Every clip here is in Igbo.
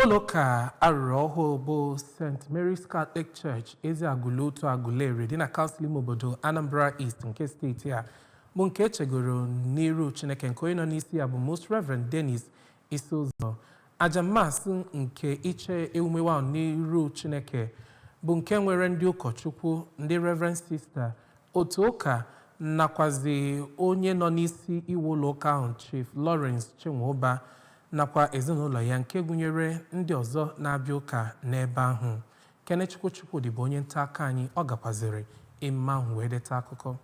ụlọụka a rụrụ ọhụụ bụ st mary's catholic church eziagụlụ otu agụleri dị na kansụl ime obodo anambra east nke steeti a bụ nke e chegoro n'iru chineke nke onye nọ n'isi ya bụ most reverend dennis isizoh aja mass nke iche ewumewu ahụ n'iru chineke bụ nke nwere ndị ụkọchukwu ndị reverend sister otu ụka nakwazi onye nọ n'isi iwu ụlọ ụka ahụ chief lawrence chinwụba nakwa ezinụlọ ya nke gụnyere ndị ọzọ na-abịa ụka n'ebe ahụ. Kenechukwu Chukwudi bụ onye nta akụkọ anyị, ọ gakwazịrị emume ahụ wee deta akụkọ.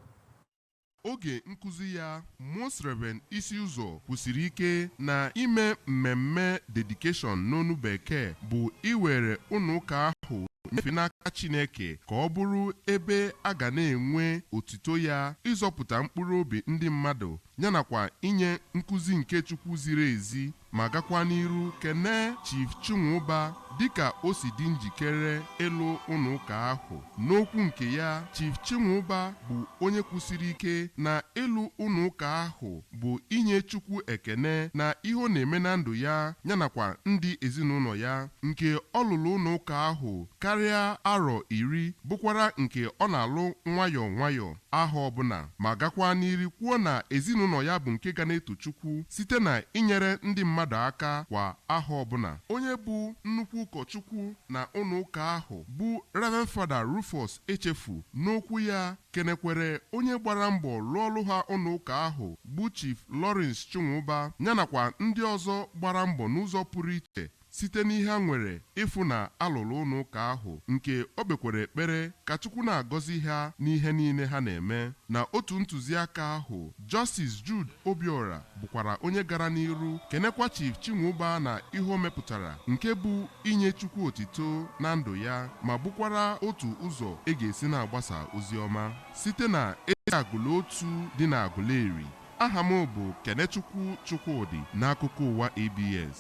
Oge nkuzi ya, Most Rev. Isizoh kwusiri ike na ime mmemme Dedication n'onu Bekee bụ iwere ụlọụka ahụ nyefee n'aka Chineke ka ọ bụrụ ebe a ga na-enwe otito Ya, ịzọpụta mkpụrụobi ndị mmadụ yanakwa inye nkuzi nke Chukwu ziri ezi ma gakwa n'iru kenee Chief Chinwụba dịka o si dị njikere ịlụ ụlọ ụka ahụ. N'okwu nke ya, Chief Chinwụba bụ onye kwusiri ike na ịlụ ụlọ ụka ahụ bụ inye Chukwu ekene na ihe ọ na-eme na ndụ ya yanakwa ndị ezinaụlọ ya. Nke ọ lụrụ ụlọ ụka ahụ karịa arọ iri bụkwara nke ọ na-alụ nwayọọ nwayọọ. ahọ ọbụla, ma gakwa n'iru kwuo na ezinụlọ ya bụ nke ga na-eto Chukwu site na inyere ndị mmadụ aka kwa ahọ ọbụla. Onye bụ nnukwu ụkọchukwu na ụlọ ụka ahụ bụ Rev. Fada Rufus Echefu n'okwu ya kenekwere onye gbara mbọ lụọlụ ha ụlọ ụka ahụ bụ Chief Lawrence Chinwụba ya nakwa ndị ọzọ gbara mbọ n'ụzọ pụrụ iche Site n'ihe ha nwere ịfụ na a lụrụ ụlọ ụka ahụ nke o kpekwara ekpere ka Chukwu na-agọzi ha n'ihe niile ha na-eme na otu ntụziaka ahụ. Justice Jude Obiora bụkwara onye gara n'iru kenekwa Chief Chinwụba na ihe o mepụtara nke bụ inye Chukwu otito na ndụ ya ma bụkwara otu ụzọ e ga-esi na-agbasa ozi ọma site na Eziagụlụ Otu dị n'Agụleri. Aha m bụ Kenechukwu Chukwudị n'akụkọ ụwa ABS.